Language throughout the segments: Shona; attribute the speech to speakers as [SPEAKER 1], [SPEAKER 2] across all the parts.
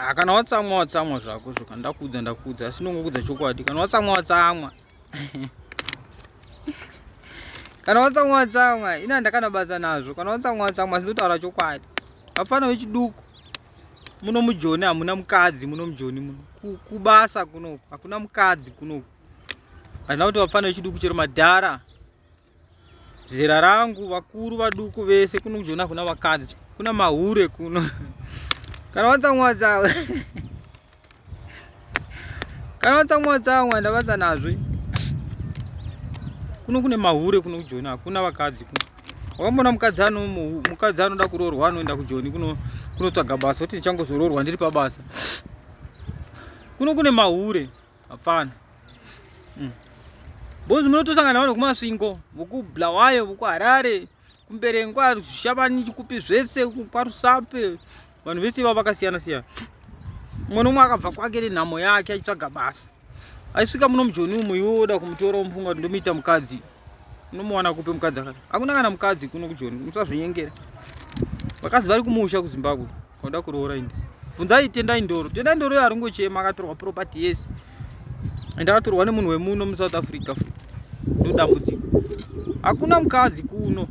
[SPEAKER 1] ah, kana watsamwa watsamwa zvako zvoka ndakuudza ndakuudza asi ndongokuudza chokwadi kana watsamwa watsamwa kana watsamwa watsamwa ini handakana basa nazvo kana watsamwa watsamwa asi ndotaura chokwadi vapfana vechiduku muno mujoni hamuna mukadzi muno mujoni muno kubasa kunoku hakuna mukadzi kunoku handina kuti vapfana vechiduku chero madhara zera rangu vakuru vaduku vese kuno kujona kuna vakadzi kuna mahure kuno kana watsamwa tsamwa kana watsamwa tsamwa ndavasa nazve kuno kune mahure kuno kujoni hakuna vakadzi kuno wakamboona mukadzi ano mukadzi anoda kuroorwa anoenda kujoni kuno kunotsvaga basa kuti ndichangozoroorwa ndiri pabasa kuno kune mahure Hapana. Mm. Bonzi munotosangana navanhu kumasvingo, vokublawayo, vokuharare, kumberengwa, zvishavani, chikupi zvese, kwarusape. Vanhu vese ivavo vakasiyana siyana. Mumwe nomwe akabva kwake nenhamo yake achitsvaga basa. Aisvika muno mujoni umu iwe woda kumutora womufunga kuti ndomuita mukadzi. Unomuwana kupe mukadzi akati. Hakuna kana mukadzi kuno kujoni, musazvinyengera. Vakadzi vari kumusha kuZimbabwe. Koda kuroora indi. Vunzai tendai ndoro. Tendai ndoro yari ngochema akatorwa property yes. And akatorwa nemunhu wemuno mu South Africa futi. Ndodambudziko. Hakuna mukadzi kuno.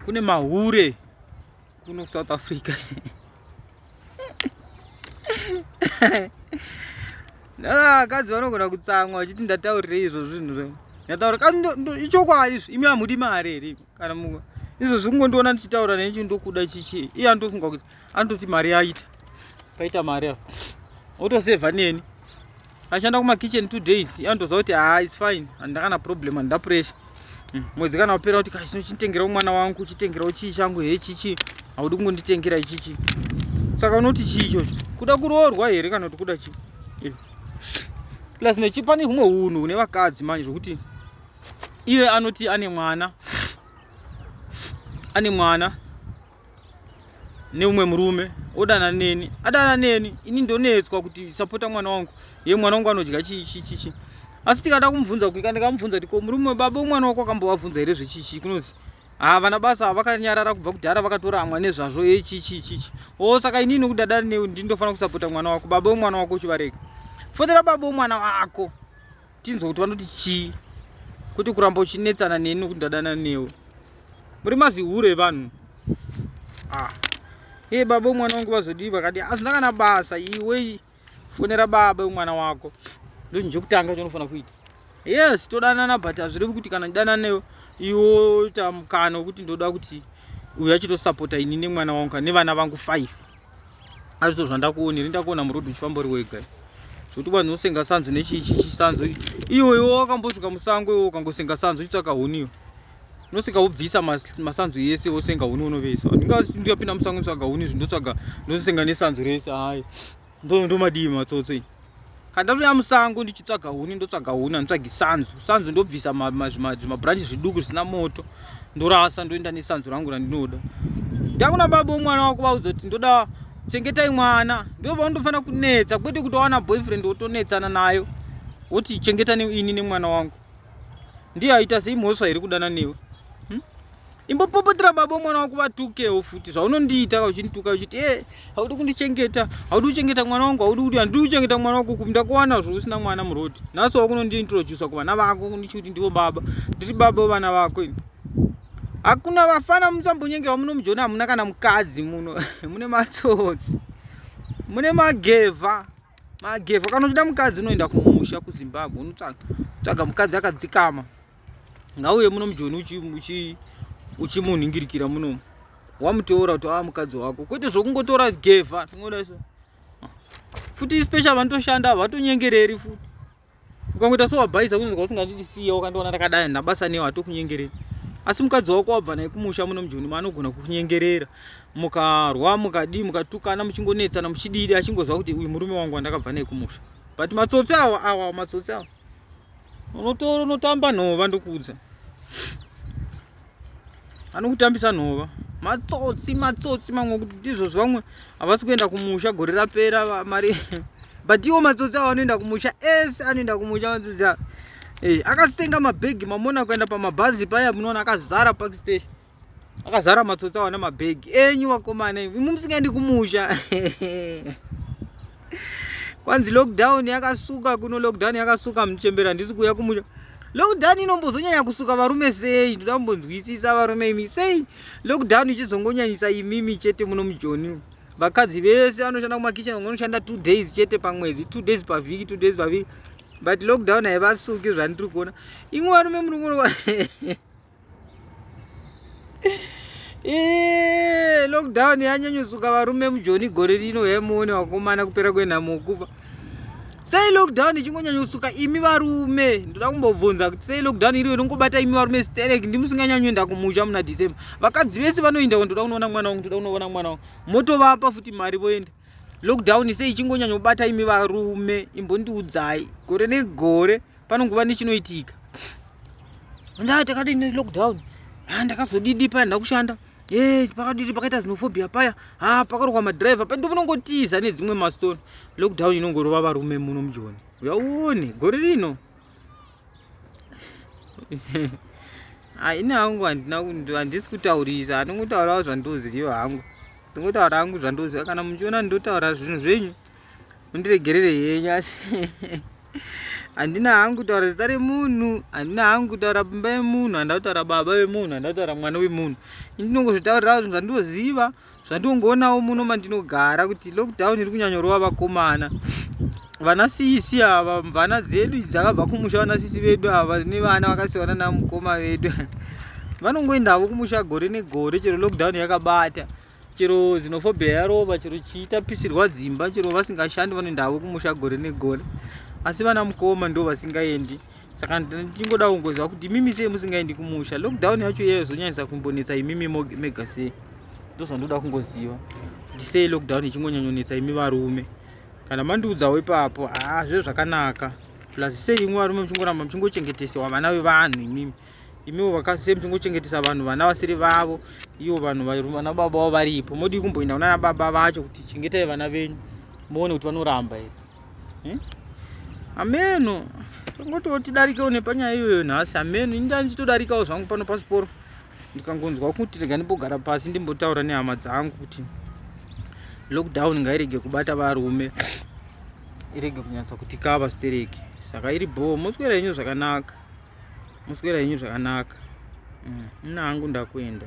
[SPEAKER 1] Kune mahure kuno ku South Africa. Vakadzi vanogona kutsamwa vachiti ndataurirei izvo zvinhu. Ndataura ichokwadi izvo imi hamudi mari here. kana mumwe izvozvi kungondiona ndichitaura naye chii ndokuda chichii iye andofunga kuti anototi mari aita paita mari a otosevha neni ashanda kumakitchen two days iye andoziva kuti haa ah, is fine handina kana problem handina pressure hmm, mwedzi kana wapera kuti kachino chitengerawo mwana wangu chitengerawo chii changu he chichii haudi kungonditengera ichichii saka unoti chii ichocho kuda kuroorwa here kana kuti kuda chii eh. plus nechipani humwe hunhu hune vakadzi manje zvokuti iye anoti ane mwana ane mwana neumwe murume odana neni adana neni ini ndonetswa kuti sapota mwana wangu ye mwana wangu anodya chichichichi asi tikada kumubvunza kuika ndikamubvunza kuti ko murume webaba umwana wako akambovabvunza here zvechichi kunozi haa vana basa havakanyarara kubva kudhara vakatoramwa nezvazvo e chichichichi o oh, saka inini kudada newe ndindofanira kusapota mwana wako baba wemwana wako uchivarega fotera baba wemwana wako tinzwa kuti vanoti chii kwete kuramba uchinetsana neni nokuti ndadana newe muri mazihure evanhu ah. e baba umwana wangu vazodii vakati hazvina kana basa iwe fonera baba umwana wako ndozvinhu chekutanga chaunofanira kuita yes todanana but hazvirevi kuti kana ndidanana newe iwo tamukana wekuti ndoda kuti uyu achitosapota ini nemwana wangu nevana vangu five azvizo zvandakuona iri ndakuona muroad uchifamba uri wega zvekuti vanhu usenga sanzu nechichi chisanzu iwe iwe wakambosvika musango iwe ukangosenga sanzu uchitsvaka huni iwe unosvika wobvisa masanzu yese wosenga huni unovesa ndingapinda musango ndotsvaga huni izvi ndotsvaga ndosenga nesanzu rese hayi ndomadii matsotso Kandatouya musango ndichitsvaga huni ndotsvaga huni handitsvagi sanzu sanzu ndobvisa zvimabranchi zviduku zvisina moto ndorasa ndoenda nesanzu rangu randinoda ndakuna baba wemwana wako vaudza kuti ndoda chengetai mwana ndovandofanira kunetsa kwete kuti wawana boyfriend wotonetsana nayo woti chengeta ini nemwana wangu ndiye aita sei mhosva here kudana newe imbopopotera baba mwana wako vatukewo futi zvaunondiita uchindituka uchiti e haudi kundichengeta haudi kuchengeta mwana wangu haudi kuti handidi kuchengeta mwana wako ku ndakuwana zvo usina mwana murodi nhasi wakunondiintrodusa kuvana vako kundichi kuti ndivo baba ndiri baba vana vako ini hakuna vafana musambonyengera muno mujoni hamuna kana mukadzi muno mune matsotsi mune magevha magevha kana uchida mukadzi unoenda kumusha kuzimbabwe unotsvaga mukadzi akadzikama ngauye muno mujoni uchimunhingirikira uchi, uchi munomu wamuteura kuti ava mukadzi wako kwete zvokungotora gevha tingoda so futi special vanotoshanda vatonyengereri futi ukangoita sowabhaisa kunzwa usingandisiya wakandiona ndakadai ndabasa newe hatokunyengereri asi mukadzi wako wabva naye kumusha muno mujoni maanogona kukunyengerera mukarwa mukadii mukatukana muchingonetsana muchididi achingoziva kuti uyu murume wangu wandakabva naye kumusha but matsotsi awa awa matsotsi awa unotora unotamba nhova ndokuudza anokutambisa nhova matsotsi matsotsi mamwe kuti ndizvo zvamwe havasi kuenda kumusha gore rapera mari but iwo matsotsi avo anoenda kumusha ese anoenda kumusha matsotsi avo eh, akasenga mabhegi mamona kuenda pamabhazi paya munoona akazara park station akazara matsotsi awana mabhegi enyu vakomana imi musingaendi kumusha kwanzi lockdown yakasuka kuno lockdown yakasuka muchembera handisi kuuya kumusha lockdown inombozonyanya kusuka varume sei ndoda kumbonzwisisa varume imi sei lockdown ichizongonyanyisa imimi chete muno mujoni vakadzi vese vanoshanda kumakitchen vamwe vanoshanda two days chete pamwedzi two days pavhiki two days pavhiki but lockdown haivasuki zvandiri kuona imwe varume murungu Eee, lockdown yanyanyosuka varume mujoni gore rino hemuone wakomana kupera kwenhamo kufa sei lockdown ichingonyanyosuka imi varume ndoda kumbobvunza kuti sei lockdown iriyo inongobata imi varume sterek ndimusinganyanyoenda kumusha muna december vakadzi vese vanoenda ko ndoda kunoona mwana wangu ndoda kunoona mwana wangu motovapa futi mari voenda lockdown sei ichingonyanyobata imi varume imbondiudzai gore negore ne panongova nechinoitika ndaa takadii nelockdown ha ndakazodidi paya ndakushanda e pakadidi pakaita zinofobia paya ha pakarokwa madriver pandi munongotiza nedzimwe mastone lockdown inongorova varume muno mujoni uyauone gore rino haina hangu handisi kutaurisa handingotaurawo zvandoziva hangu ndingotaura hangu zvandoziva kana muchiona ndinotaura zvinhu zvenyu mundiregerere henyu asi handina hangu kutaura zita remunhu handina hangu kutaura pimba yemunhu handina kutaura baba vemunhu handina kutaura mwana wemunhu indinongozvitaurirawo zvinhu zvandinoziva zvandinongoonawo muno mandinogara kuti lockdown iri kunyanyorova vakomana vana sisi ava mvana dzedu dzakabva kumusha vana sisi vedu ava ne vana vakasiyana namukoma vedu vanongoendavo kumusha gore negore chero lockdown yakabata chero xenophobia yarova chero chiitapisirwa dzimba chero vasingashandi vanoenda havo kumusha gore negore asi vana mukoma ndo vasingaendi saka ndichingoda kungoziva kuti imimi sei musingaendi kumusha lockdown yacho iyeyo zonyanyisa kumbonetsa imimi mega sei ndo zvandoda kungoziva kuti sei lockdown ichingonyanyonetsa imi varume kana mandiudzawo ipapo haa zve zvakanaka plus sei imwe varume muchingoramba muchingochengetesewa vana vevanhu imimi imiwo vakadzi same tingochengetesa vanhu vana vasiri vavo ivo vanhu vana baba vavo varipo modii kumboenda kunana baba vacho kuti chengetai vana venyu muone kuti vanoramba here hmm? ameno tongotiwo tidarikewo nepanyaya iyoyo nhasi ameno inda ndichitodarikawo zvangu pano pasiporo ndikangonzwa kuti rega ndimbogara pasi ndimbotaura nehama dzangu kuti lockdown ngairege kubata varume irege kunyatsa kuti kava stereki saka iri bhoo moswera yenyu zvakanaka Muswera henyu zvakanaka. Mm, nina hangu ndakuenda.